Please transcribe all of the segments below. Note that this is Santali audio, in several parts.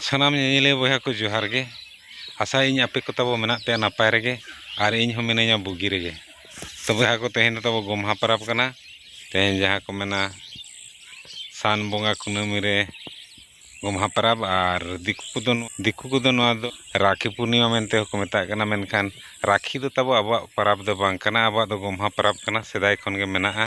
ᱥᱟᱱᱟᱢ ᱧᱮᱧᱮᱞᱤᱭᱟᱹ ᱵᱚᱭᱦᱟ ᱠᱚ ᱡᱚᱦᱟᱨ ᱜᱮ ᱟᱥᱟᱭᱟᱹᱧ ᱟᱯᱮ ᱠᱚ ᱛᱟᱵᱚ ᱢᱮᱱᱟᱜ ᱯᱮᱭᱟ ᱱᱟᱯᱟᱭ ᱨᱮᱜᱮ ᱟᱨ ᱤᱧ ᱦᱚᱸ ᱢᱤᱱᱟᱹᱧᱟ ᱵᱩᱜᱤ ᱨᱮᱜᱮ ᱛᱚ ᱵᱚᱭᱦᱟ ᱠᱚ ᱛᱮᱦᱮᱧ ᱫᱚ ᱛᱟᱵᱚ ᱜᱚᱢᱦᱟ ᱯᱚᱨᱚᱵᱽ ᱠᱟᱱᱟ ᱛᱮᱦᱮᱧ ᱡᱟᱦᱟᱸ ᱠᱚ ᱢᱮᱱᱟ ᱥᱟᱱ ᱵᱚᱸᱜᱟ ᱠᱩᱱᱟᱹᱢᱤ ᱨᱮ ᱜᱚᱢᱦᱟ ᱯᱚᱨᱚᱵᱽ ᱟᱨ ᱫᱤᱠᱩ ᱠᱚᱫᱚ ᱫᱤᱠᱩ ᱠᱚᱫᱚ ᱱᱚᱣᱟ ᱫᱚ ᱨᱟᱠᱷᱤ ᱯᱩᱨᱱᱤᱢᱟ ᱢᱮᱱᱛᱮ ᱦᱚᱸᱠᱚ ᱢᱮᱛᱟᱜ ᱠᱟᱱᱟ ᱢᱮᱱᱠᱷᱟᱱ ᱨᱟᱠᱷᱤ ᱫᱚ ᱛᱟᱵᱚ ᱟᱵᱚᱣᱟᱜ ᱯᱚᱨᱚᱵᱽ ᱫᱚ ᱵᱟᱝ ᱠᱟᱱᱟ ᱟᱵᱚᱣᱟᱜ ᱫᱚ ᱜᱚᱢᱦᱟ ᱯᱚᱨᱚᱵᱽ ᱠᱟᱱᱟ ᱥᱮᱫᱟᱭ ᱠᱷᱚᱱ ᱜᱮ ᱢᱮᱱᱟᱜᱼᱟ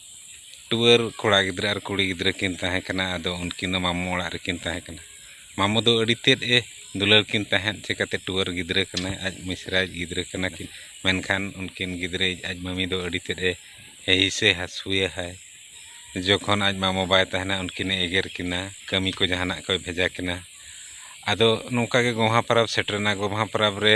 ᱴᱩᱣᱟᱹᱨ ᱠᱚᱲᱟ ᱜᱤᱫᱽᱨᱟᱹ ᱟᱨ ᱠᱩᱲᱤ ᱜᱤᱫᱽᱨᱟᱹ ᱠᱤᱱ ᱛᱟᱦᱮᱸ ᱠᱟᱱᱟ ᱟᱫᱚ ᱩᱱᱠᱤᱱ ᱫᱚ ᱢᱟᱢᱚ ᱚᱲᱟᱜ ᱨᱮᱠᱤᱱ ᱛᱟᱦᱮᱸ ᱠᱟᱱᱟ ᱢᱟᱢᱚ ᱫᱚ ᱟᱹᱰᱤ ᱛᱮᱫ ᱮ ᱫᱩᱞᱟᱹᱲ ᱠᱤᱱ ᱛᱟᱦᱮᱸᱫ ᱪᱤᱠᱟᱹᱛᱮ ᱴᱩᱣᱟᱹᱨ ᱜᱤᱫᱽᱨᱟᱹ ᱠᱟᱱᱟᱭ ᱟᱡ ᱢᱤᱥᱨᱟᱭᱤᱡ ᱜᱤᱫᱽᱨᱟᱹ ᱠᱟᱱᱟ ᱠᱤᱱ ᱢᱮᱱᱠᱷᱟᱱ ᱩᱱᱠᱤᱱ ᱜᱤᱫᱽᱨᱟᱹᱭᱤᱡ ᱟᱡ ᱢᱟᱹᱢᱤ ᱫᱚ ᱟᱹᱰᱤ ᱛᱮᱫ ᱮ ᱦᱤᱥᱟᱹ ᱦᱟᱹᱥᱩᱭᱟᱦᱟᱭ ᱡᱚᱠᱷᱚᱱ ᱟᱡ ᱢᱟᱢᱚ ᱵᱟᱭ ᱛᱟᱦᱮᱱᱟ ᱩᱱᱠᱤᱱ ᱮ ᱮᱜᱮᱨ ᱠᱤᱱᱟ ᱠᱟᱹᱢᱤ ᱠᱚ ᱡᱟᱦᱟᱱᱟᱜ ᱠᱚᱭ ᱵᱷᱮᱡᱟ ᱠᱤᱱᱟ ᱟᱫᱚ ᱱᱚᱝᱠᱟ ᱜᱮ ᱜᱚᱢᱦᱟ ᱯᱟᱨᱟᱵᱽ ᱥᱮᱴᱮᱨᱮᱱᱟ ᱜᱚᱢᱦᱟ ᱯᱟᱨᱟᱵᱽ ᱨᱮ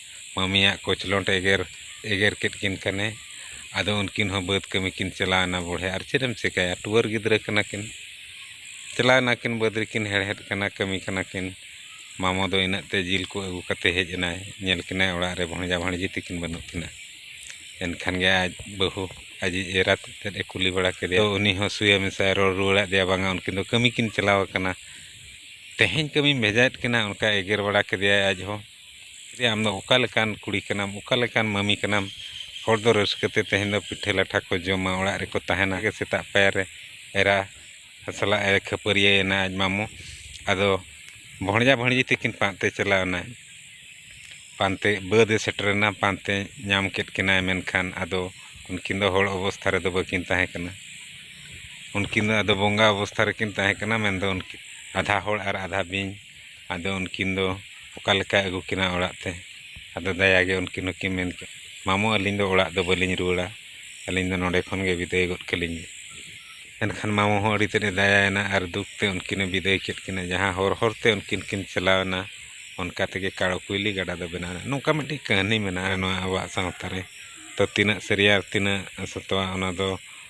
ᱢᱟᱹᱢᱤᱭᱟᱜ ᱠᱚᱪᱞᱚᱸᱰ ᱮᱜᱮᱨ ᱮᱜᱮᱨ ᱠᱮᱫ ᱠᱤᱱ ᱠᱷᱟᱱᱮ ᱟᱫᱚ ᱩᱱᱠᱤᱱ ᱦᱚᱸ ᱵᱟᱹᱫᱽ ᱠᱟᱹᱢᱤ ᱠᱤᱱ ᱪᱟᱞᱟᱣ ᱮᱱᱟ ᱵᱚᱲᱦᱮ ᱟᱨ ᱪᱮᱫ ᱮᱢ ᱪᱤᱠᱟᱹᱭᱟ ᱴᱩᱣᱟᱹᱨ ᱜᱤᱫᱽᱨᱟᱹ ᱠᱟᱱᱟ ᱠᱤᱱ ᱪᱟᱞᱟᱣ ᱮᱱᱟ ᱠᱤᱱ ᱵᱟᱹᱫᱽ ᱨᱮᱠᱤᱱ ᱦᱮᱲᱦᱮᱫ ᱠᱟᱱᱟ ᱠᱟᱹᱢᱤ ᱠᱟᱱᱟ ᱠᱤᱱ ᱢᱟᱢᱚ ᱫᱚ ᱤᱱᱟᱹᱜ ᱛᱮ ᱡᱤᱞ ᱠᱚ ᱟᱹᱜᱩ ᱠᱟᱛᱮ ᱦᱮᱡ ᱮᱱᱟᱭ ᱧᱮᱞ ᱠᱤᱱᱟᱭ ᱚᱲᱟᱜ ᱨᱮ ᱵᱷᱚᱸᱡᱟ ᱵᱷᱟᱹᱬᱡᱤ ᱛᱟᱹᱠᱤᱱ ᱵᱟᱹᱱᱩᱜ ᱠᱤᱱᱟ ᱮᱱᱠᱷᱟᱱ ᱜᱮ ᱟᱡ ᱵᱟᱹᱦᱩ ᱟᱡᱤᱡ ᱮᱨᱟ ᱛᱮᱫ ᱮ ᱠᱩᱞᱤ ᱵᱟᱲᱟ ᱠᱮᱫᱮᱭᱟ ᱟᱫᱚ ᱩᱱᱤ ᱦᱚᱸ ᱥᱩᱭᱟ ᱢᱮᱥᱟᱭ ᱨᱚᱲ ᱨᱩᱣᱟᱹᱲ ᱟᱫᱮᱭᱟ ᱵᱟᱝᱟ ᱩᱱᱠᱤᱱ ᱫᱚ ᱠᱟᱹᱢᱤ ᱠᱤᱱ ᱪᱟᱞᱟᱣ ᱠᱟᱱᱟ ᱛᱮᱦᱮᱧ ᱠᱟᱹᱢᱤᱢ ᱵᱷᱮᱡᱟᱭᱮᱫ ᱠᱤᱱᱟ ᱚᱱᱠᱟᱭ ᱮᱜᱮᱨ ᱵᱟᱲᱟ ᱠᱮᱫᱮᱭᱟᱭ ᱟᱡ ᱦᱚᱸ ᱮᱭᱟ ᱟᱢ ᱫᱚ ᱚᱠᱟ ᱞᱮᱠᱟᱱ ᱠᱩᱲᱤ ᱠᱟᱱᱟᱢ ᱚᱠᱟ ᱞᱮᱠᱟᱱ ᱢᱟᱹᱢᱤ ᱠᱟᱱᱟᱢ ᱦᱚᱲ ᱫᱚ ᱨᱟᱹᱥᱠᱟᱹ ᱛᱮ ᱛᱮᱦᱮᱧ ᱫᱚ ᱯᱤᱴᱷᱟᱹ ᱞᱟᱴᱷᱟ ᱠᱚ ᱡᱚᱢᱟ ᱚᱲᱟᱜ ᱨᱮᱠᱚ ᱛᱟᱦᱮᱱᱟ ᱟᱜᱮ ᱥᱮᱛᱟᱜ ᱯᱟᱭᱟᱨ ᱨᱮ ᱮᱨᱟ ᱥᱟᱞᱟᱜ ᱮ ᱠᱷᱟᱹᱯᱟᱹᱨᱤᱭᱟᱹᱭᱮᱱᱟ ᱟᱡ ᱢᱟᱢᱚ ᱟᱫᱚ ᱵᱷᱚᱸᱡᱟ ᱵᱷᱚᱸᱡᱤ ᱛᱟᱹᱠᱤᱱ ᱯᱟᱱᱛᱮ ᱪᱟᱞᱟᱣ ᱮᱱᱟᱭ ᱯᱟᱱᱛᱮ ᱵᱟᱹᱫᱽ ᱮ ᱥᱮᱴᱮᱨ ᱮᱱᱟ ᱯᱟᱱᱛᱮ ᱧᱟᱢ ᱠᱮᱫ ᱠᱤᱱᱟᱭ ᱢᱮᱱᱠᱷᱟᱱ ᱟᱫᱚ ᱩᱱᱠᱤᱱ ᱫᱚ ᱦᱚᱲ ᱚᱵᱚᱥᱛᱷᱟ ᱨᱮᱫᱚ ᱵᱟᱹᱠᱤᱱ ᱛᱟᱦᱮᱸ ᱠᱟᱱᱟ ᱩᱱᱠᱤᱱ ᱫᱚ ᱟᱫᱚ ᱵᱚᱸᱜᱟ ᱚᱵᱚᱥᱛᱷᱟ ᱨᱮᱠᱤᱱ ᱛᱟᱦᱮᱸ ᱠᱟᱱᱟ ᱢᱮᱱᱫᱚ ᱩᱱᱠᱤᱱ ᱟᱫᱷᱟ ᱦᱚᱲ ᱟᱨ ᱟᱫᱷᱟ ᱵᱤᱧ ᱟᱫᱚ ᱩᱱᱠᱤᱱ ᱫᱚ ᱚᱠᱟ ᱞᱮᱠᱟᱭ ᱟᱹᱜᱩ ᱠᱤᱱᱟ ᱚᱲᱟᱜ ᱛᱮ ᱟᱫᱚ ᱫᱟᱭᱟ ᱜᱮ ᱩᱱᱠᱤᱱ ᱦᱚᱸᱠᱤᱱ ᱢᱮᱱ ᱠᱮᱫᱼᱟ ᱢᱟᱢᱚ ᱟᱹᱞᱤᱧ ᱫᱚ ᱚᱲᱟᱜ ᱫᱚ ᱵᱟᱹᱞᱤᱧ ᱨᱩᱣᱟᱹᱲᱟ ᱟᱹᱞᱤᱧ ᱫᱚ ᱱᱚᱰᱮ ᱠᱷᱚᱱ ᱜᱮ ᱵᱤᱫᱟᱹᱭ ᱜᱚᱫ ᱠᱟᱹᱞᱤᱧ ᱵᱤᱱ ᱮᱱᱠᱷᱟᱱ ᱢᱟᱢᱚ ᱦᱚᱸ ᱟᱹᱰᱤ ᱛᱮᱫ ᱮ ᱫᱟᱭᱟᱭᱮᱱᱟ ᱟᱨ ᱫᱩᱠ ᱛᱮ ᱩᱱᱠᱤᱱᱮ ᱵᱤᱫᱟᱹᱭ ᱠᱮᱫ ᱠᱤᱱᱟ ᱡᱟᱦᱟᱸ ᱦᱚᱨ ᱦᱚᱨ ᱛᱮ ᱩᱱᱠᱤᱱ ᱠᱤᱱ ᱪᱟᱞᱟᱣ ᱮᱱᱟ ᱚᱱᱠᱟ ᱛᱮᱜᱮ ᱠᱟᱬᱚ ᱠᱩᱭᱞᱤ ᱜᱟᱰᱟ ᱫᱚ ᱵᱮᱱᱟᱣ ᱮᱱᱟ ᱱᱚᱝᱠᱟ ᱢᱤᱫᱴᱤᱡ ᱠᱟᱹᱦᱱᱤ ᱢᱮᱱᱟᱜᱼᱟ ᱱᱚᱣᱟ ᱟᱵᱚᱣᱟᱜ ᱥᱟᱶᱛᱟ ᱨᱮ ᱛᱚ ᱛᱤᱱᱟᱹᱜ ᱥᱟᱹᱨᱤᱭᱟ ᱛᱤᱱᱟᱹᱜ ᱥᱚᱛᱚᱣᱟ ᱚᱱᱟ ᱫᱚ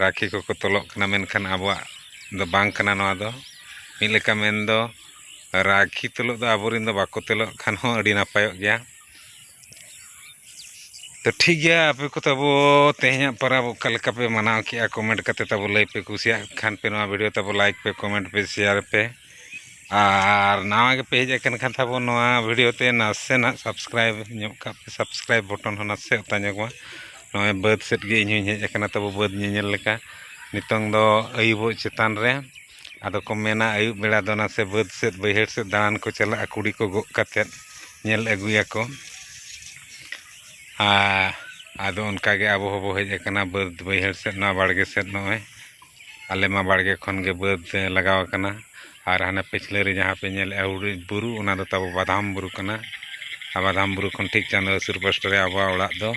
ᱨᱟᱹᱠᱷᱤ ᱠᱚᱠᱚ ᱛᱚᱞᱚᱜ ᱠᱟᱱᱟ ᱢᱮᱱᱠᱷᱟᱱ ᱟᱵᱚᱣᱟᱜ ᱫᱚ ᱵᱟᱝ ᱠᱟᱱᱟ ᱱᱚᱣᱟ ᱫᱚ ᱢᱤᱫ ᱞᱮᱠᱟ ᱢᱮᱱ ᱫᱚ ᱨᱟᱹᱠᱷᱤ ᱛᱚᱞᱚᱜ ᱫᱚ ᱟᱵᱚ ᱨᱮᱱ ᱫᱚ ᱵᱟᱠᱚ ᱛᱚᱞᱚᱜ ᱠᱷᱟᱱ ᱦᱚᱸ ᱟᱹᱰᱤ ᱱᱟᱯᱟᱭᱚᱜ ᱜᱮᱭᱟ ᱛᱚ ᱴᱷᱤᱠ ᱜᱮᱭᱟ ᱟᱯᱮ ᱠᱚ ᱛᱟᱵᱚ ᱛᱮᱦᱮᱧᱟᱜ ᱯᱟᱨᱟᱵᱽ ᱚᱠᱟ ᱞᱮᱠᱟ ᱯᱮ ᱢᱟᱱᱟᱣ ᱠᱮᱜᱼᱟ ᱠᱚᱢᱮᱱᱴ ᱠᱟᱛᱮ ᱛᱟᱵᱚ ᱞᱟᱹᱭ ᱯᱮ ᱠᱩᱥᱤᱭᱟᱜ ᱠᱷᱟᱱ ᱯᱮ ᱱᱚᱣᱟ ᱵᱷᱤᱰᱤᱭᱳ ᱛᱟᱵᱚ ᱞᱟᱭᱤᱠ ᱯᱮ ᱠᱚᱢᱮᱱᱴ ᱯᱮ ᱥᱮᱭᱟᱨ ᱯᱮ ᱟᱨ ᱱᱟᱣᱟ ᱜᱮᱯᱮ ᱦᱮᱡ ᱟᱠᱟᱱ ᱠᱷᱟᱱ ᱛᱟᱵᱚᱱ ᱱᱚᱣᱟ ᱵᱷᱤᱰᱤᱭᱳ ᱛᱮ ᱱᱟᱥᱮᱱᱟᱜ ᱥᱟᱵᱥᱠᱨᱟᱭᱤᱵᱽ ᱧᱚᱜ ᱠᱟᱜ ᱯᱮ ᱥᱟᱵᱥᱠᱨᱟᱭᱤᱵᱽ ᱵᱚᱴᱚᱱ ᱦᱚᱸ ᱱᱟᱥᱮ ᱚᱛᱟ ᱧᱚᱜᱽ ᱢᱟ ᱱᱚᱜᱼᱚᱭ ᱵᱟᱹᱫᱽ ᱥᱮᱫ ᱜᱮ ᱤᱧ ᱦᱚᱸᱧ ᱦᱮᱡ ᱟᱠᱟᱱᱟ ᱛᱟᱵᱚ ᱵᱟᱹᱫᱽ ᱧᱮᱧᱮᱞ ᱞᱮᱠᱟ ᱱᱤᱛᱚᱝ ᱫᱚ ᱟᱹᱭᱩᱵᱚᱜ ᱪᱮᱛᱟᱱ ᱨᱮ ᱟᱫᱚ ᱠᱚ ᱢᱮᱱᱟ ᱟᱹᱭᱩᱵ ᱵᱮᱲᱟ ᱫᱚ ᱱᱟᱥᱮ ᱵᱟᱹᱫᱽ ᱥᱮᱫ ᱵᱟᱹᱭᱦᱟᱹᱲ ᱥᱮᱫ ᱫᱟᱬᱟᱱ ᱠᱚ ᱪᱟᱞᱟᱜᱼᱟ ᱠᱩᱲᱤ ᱠᱚ ᱜᱚᱜ ᱠᱟᱛᱮ ᱧᱮᱞ ᱟᱹᱜᱩᱭᱟᱠᱚ ᱟᱨ ᱟᱫᱚ ᱚᱱᱠᱟ ᱜᱮ ᱟᱵᱚ ᱦᱚᱸᱵᱚ ᱦᱮᱡ ᱟᱠᱟᱱᱟ ᱵᱟᱹᱫᱽ ᱵᱟᱹᱭᱦᱟᱹᱲ ᱥᱮᱫ ᱱᱚᱣᱟ ᱵᱟᱲᱜᱮ ᱥᱮᱫ ᱱᱚᱜᱼᱚᱭ ᱟᱞᱮ ᱢᱟ ᱵᱟᱲᱜᱮ ᱠᱷᱚᱱ ᱜᱮ ᱵᱟᱹᱫᱽ ᱞᱟᱜᱟᱣ ᱟᱠᱟᱱᱟ ᱟᱨ ᱦᱟᱱᱮ ᱯᱟᱹᱪᱷᱞᱟᱹ ᱨᱮ ᱡᱟᱦᱟᱸ ᱯᱮ ᱧᱮᱞᱮᱜᱼᱟ ᱦᱩᱰᱩᱡ ᱵᱩᱨᱩ ᱚᱱᱟ ᱫᱚ ᱛᱟᱵᱚ ᱵᱟᱫᱷᱟᱢ ᱵᱩᱨᱩ ᱠᱟᱱᱟ ᱟᱨ ᱵᱟᱫᱷᱟᱢ ᱵᱩᱨᱩ ᱠᱷᱚᱱ ᱴᱷᱤᱠ ᱪᱟᱸᱫᱚ ᱦᱟᱹᱥᱩᱨ ᱯᱟᱥᱴᱟ ᱨᱮ ᱟᱵᱚᱣᱟᱜ ᱚᱲᱟᱜ ᱫᱚ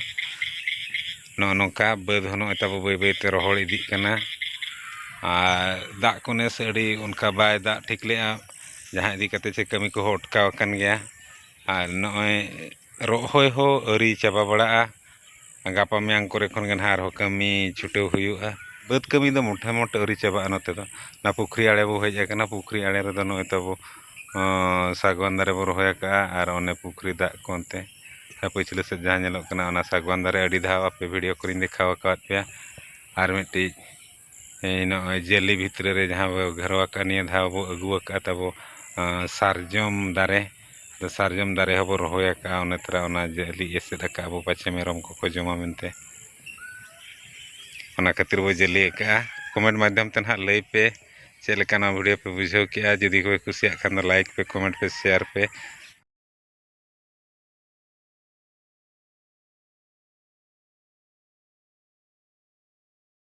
ᱱᱚᱜᱼᱚᱸᱭ ᱱᱚᱝᱠᱟ ᱵᱟᱹᱫᱽ ᱦᱚᱸ ᱱᱚᱜᱼᱚᱸᱭ ᱛᱟᱵᱚ ᱵᱟᱹᱭ ᱵᱟᱹᱭ ᱛᱮ ᱨᱚᱦᱚᱲ ᱤᱫᱤᱜ ᱠᱟᱱᱟ ᱟᱨ ᱫᱟᱜ ᱠᱚ ᱱᱮᱥ ᱟᱹᱰᱤ ᱚᱱᱠᱟ ᱵᱟᱭ ᱫᱟᱜ ᱴᱷᱤᱠ ᱞᱮᱜᱼᱟ ᱡᱟᱦᱟᱸ ᱤᱫᱤ ᱠᱟᱛᱮ ᱪᱮ ᱠᱟᱹᱢᱤ ᱠᱚᱦᱚᱸ ᱚᱴᱠᱟᱣ ᱟᱠᱟᱱ ᱜᱮᱭᱟ ᱟᱨ ᱱᱚᱜᱼᱚᱸᱭ ᱨᱚᱦᱚᱭ ᱦᱚᱸ ᱟᱹᱣᱨᱤ ᱪᱟᱵᱟ ᱵᱟᱲᱟᱜᱼᱟ ᱜᱟᱯᱟ ᱢᱮᱭᱟᱝ ᱠᱚᱨᱮ ᱠᱷᱚᱱ ᱜᱮ ᱱᱟᱦᱟᱜ ᱟᱨᱦᱚᱸ ᱠᱟᱹᱢᱤ ᱪᱷᱩᱴᱟᱹᱣ ᱦᱩᱭᱩᱜᱼᱟ ᱵᱟᱹᱫᱽ ᱠᱟᱹᱢᱤ ᱫᱚ ᱢᱳᱴᱮ ᱢᱳᱴᱮ ᱟᱹᱣᱨᱤ ᱪᱟᱵᱟᱜᱼᱟ ᱱᱚᱛᱮ ᱫᱚ ᱚᱱᱟ ᱯᱩᱠᱷᱨᱤ ᱟᱬᱮ ᱵᱚᱱ ᱦᱮᱡ ᱟᱠᱟᱱᱟ ᱯᱩᱠᱷᱨᱤ ᱟᱬᱮ ᱨᱮᱫᱚ ᱱᱚᱜᱼᱚᱸᱭ ᱛᱟᱵᱚ ᱥᱟᱜᱽᱣᱟᱱ ᱫᱟᱨᱮ ᱵᱚᱱ ᱨᱚᱦᱚᱭ ᱟᱠᱟᱫᱼᱟ ᱟᱨ ᱚᱱᱮ ᱯᱩᱠᱷᱨᱤ ᱫᱟᱜ ᱠᱚ ᱚᱱᱛᱮ ᱟᱨ ᱯᱟᱹᱪᱷᱞᱟᱹ ᱥᱮᱫ ᱡᱟᱦᱟᱸ ᱧᱮᱞᱚᱜ ᱠᱟᱱᱟ ᱚᱱᱟ ᱥᱟᱜᱽᱣᱟᱱ ᱫᱟᱨᱮ ᱟᱹᱰᱤ ᱫᱷᱟᱣ ᱟᱯᱮ ᱵᱷᱤᱰᱤᱭᱳ ᱠᱚᱨᱮᱧ ᱫᱮᱠᱷᱟᱣ ᱟᱠᱟᱫ ᱯᱮᱭᱟ ᱟᱨ ᱢᱤᱫᱴᱤᱡ ᱱᱚᱜᱼᱚᱭ ᱡᱟᱹᱞᱤ ᱵᱷᱤᱛᱨᱤ ᱨᱮ ᱡᱟᱦᱟᱸ ᱵᱚᱱ ᱜᱷᱮᱨᱟᱣ ᱟᱠᱟᱫᱼᱟ ᱱᱤᱭᱟᱹ ᱫᱷᱟᱣ ᱵᱚᱱ ᱟᱹᱜᱩ ᱟᱠᱟᱫᱼᱟ ᱛᱟᱵᱚ ᱥᱟᱨᱡᱚᱢ ᱫᱟᱨᱮ ᱟᱫᱚ ᱥᱟᱨᱡᱚᱢ ᱫᱟᱨᱮ ᱦᱚᱸᱵᱚᱱ ᱨᱚᱦᱚᱭ ᱟᱠᱟᱫᱼᱟ ᱚᱱᱟ ᱛᱚᱨᱟ ᱚᱱᱟ ᱡᱟᱹᱞᱤ ᱮᱥᱮᱫ ᱟᱠᱟᱫᱼᱟ ᱵᱚᱱ ᱯᱟᱪᱷᱮ ᱢᱮᱨᱚᱢ ᱠᱚᱠᱚ ᱡᱚᱢᱟ ᱢᱮᱱᱛᱮ ᱚᱱᱟ ᱠᱷᱟᱹᱛᱤᱨ ᱵᱚᱱ ᱡᱟᱹᱞᱤ ᱟᱠᱟᱫᱼᱟ ᱠᱚᱢᱮᱱᱴ ᱢᱟᱫᱽᱫᱷᱚᱢ ᱛᱮ ᱱᱟᱦᱟᱜ ᱞᱟᱹᱭ ᱯᱮ ᱪᱮᱫ ᱞᱮᱠᱟ ᱱᱚᱣᱟ ᱵᱷᱤᱰᱭᱳ ᱯᱮ ᱵᱩᱡᱷᱟᱹᱣ ᱠᱮᱫᱼᱟ ᱡᱩᱫᱤ ᱯᱮ ᱠᱩᱥᱤᱭᱟᱜ ᱠᱷᱟᱱ ᱫᱚ ᱞᱟᱭᱤᱠ ᱯᱮ ᱠᱚᱢᱮᱱᱴ ᱯᱮ ᱥᱮᱭᱟᱨ ᱯᱮ